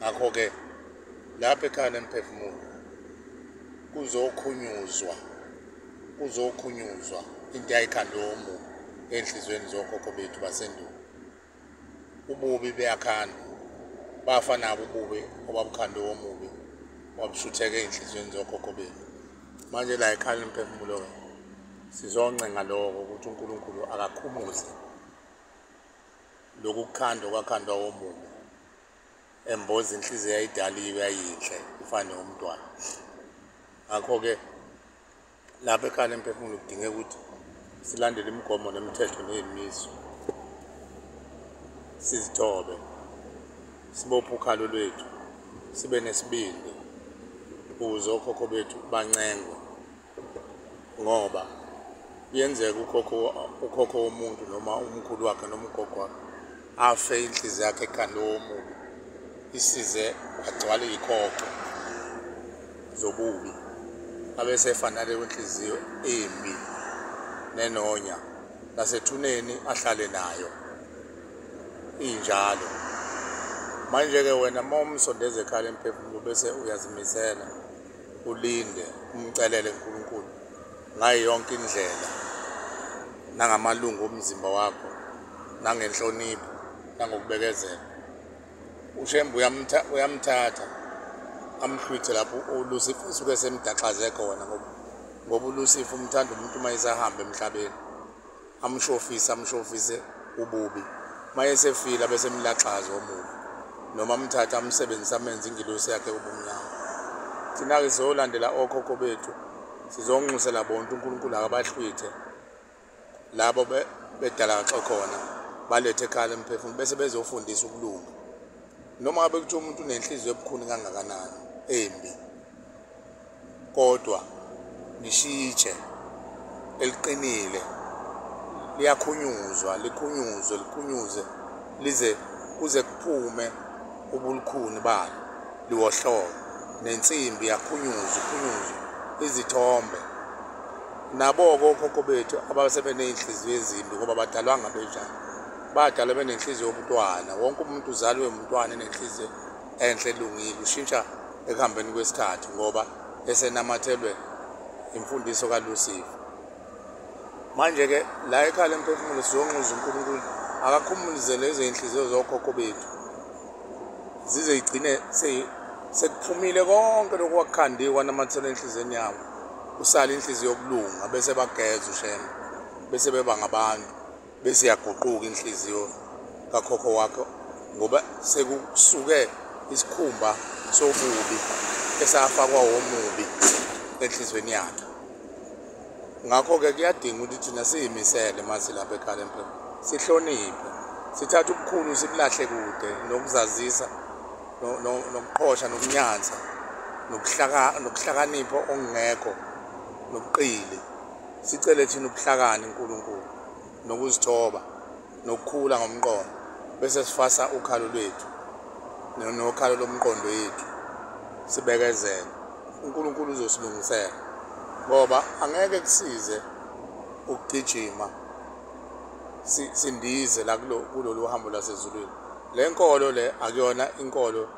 ngakho-ke lapha ekhaya lemphefumulo kuzokhunyuzwa kuzokhunyuzwa into yayikhandomu enhliziyweni zokhokho bethu basendulo ububi beyakhandwa bafa nabo ububi obabukhande womubi wabushutheka ey'nhliziyweni zokhokho bethu manje la ekhaya lemphefumulo-ke sizoncenga lokho ukuthi unkulunkulu akakhumuze lokhu kukhandwa kwakhandwa womubi emboza inhliziyo yayidaliwe yayinhle ifane umntwana ngakho-ke lapha ekhanda emphefumulo kudingeka ukuthi silandele imigomo nemithetho neyimiso sizithobe sibophe ukhalo lwethu sibe nesibindi ukuze okhokho bethu bancengwe ngoba kuyenzeka ukhokho ukhokho womuntu noma umkhulu wakhe noma ugogo wakhe afe inhliziyo yakhe ekhanda womubi isize agcwale ikhokho zobubi abesefanale kwenhliziyo embi nenonya nasethuneni ahlale nayo injalo manje-ke wena uma umsondeza ekhala emphefumulo bese uyazimisela ulinde umcelele uNkulunkulu ngayo yonke indlela nangamalungu omzimba wakho nangenhlonipho nangokubekezela ushembe uyamthatha amhlwithe lapho ulusifa usuke semdaxaze khona ngoba ngoba ulusifa umthanda umuntu uma esahamba emhlabeni amshofise amshofise ububi mayesefile abesemlaxaza omubi noma amthatha amsebenzisa amenze ingilosi yakhe ubumnyama thina-ke sizolandela okhokho bethu sizonxusela bonke unkulunkulu akabahlwithe labo bedalakaxe khona balethe ekhala emphefumulo bese bezofundisa ukulunga noma ngabe kuthiwa umuntu unenhliziyo ebukhuni kangakanani embi kodwa nishitshe eliqinile liyakhunyuzwa likhunyuzwe likhunyuze lize kuze kuphume ubulukhuni balo liwohlobo nensimbi yakhunyuzwa ikhunyuzwe izithombe nabo-ke okhokho bethu abasebeney'nhliziyo ezimbi ngoba badalwanga benjani badalwe benenhliziyo yobuntwana wonke umuntu uzalwe umntwana enenhliziyo enhle elungile ushintsha ekuhambeni kwesikhathi ngoba esenamathelwe imfundiso kaLucifer manje ke la ekhala emphefumulo sizonquza uNkulunkulu akakhumulizele izinhliziyo zokhokho bethu zize igcine sekuphumile konke lokhu kwakukhandiwe kwanamathela enhliziyweni yabo usale inhliziyo yokulunga bese bageza ushembe bese beba ngabantu bese yaguquka inhliziyo kakhokho wakho ngoba sekusuke isikhumba sobubi esafakwa womubi enhlizweni yakhe ngakho-ke kuyadinga ukuthi thina siyimisele uma silapha ekhalempre sihloniphe sithathe ubukhulu sibulahle kude nokuzazisa nokuqhosha nokunyansa nokuhlakanipha okungekho nobuqili Sicele thina ubuhlakani uNkulunkulu nokuzithoba nokukhula ngomqondo bese sifasa ukhalo lwethu nokhalo lomqondo yethu sibekezele uNkulunkulu uzosilungisela ngoba angeke kusize ukugijima sindize la kulolu hambo lasezulwini le nkolo le akuyona inkolo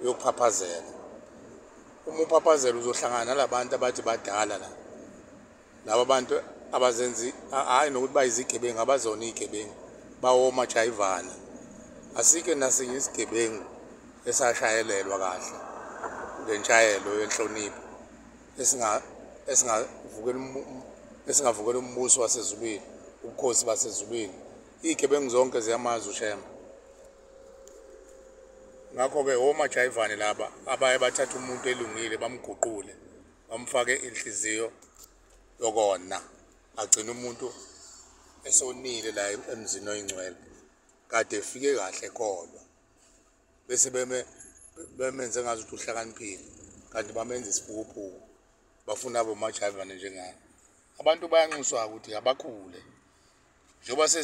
uyophaphazela uma uphaphazela uzohlangana nalabantu abathi badala la laba bantu abazenzi hayi nokuthi bayizigebengu abazona izigebengu bawoma jayivana asike nasinye isigebengu esashayelelwa kahle ngentshayelo yenhlonipho esinga esingavukela esingavukela umbuso wasezulwini ubukhosi basezulwini izigebengu zonke ziyamazi ushemba ngakho-ke omajayivane laba abaye bathatha umuntu elungile bamguqule bamfake inhliziyo yokona agcina umuntu esonile la emzini oyingcwele kade efike kahle kodwa bese beme bemenze ngazi ukuthi uhlakaniphile kanti bamenza isiphukuphuku bafuna abomajayivane njengani abantu bayanxuswa ukuthi abakhule njengoba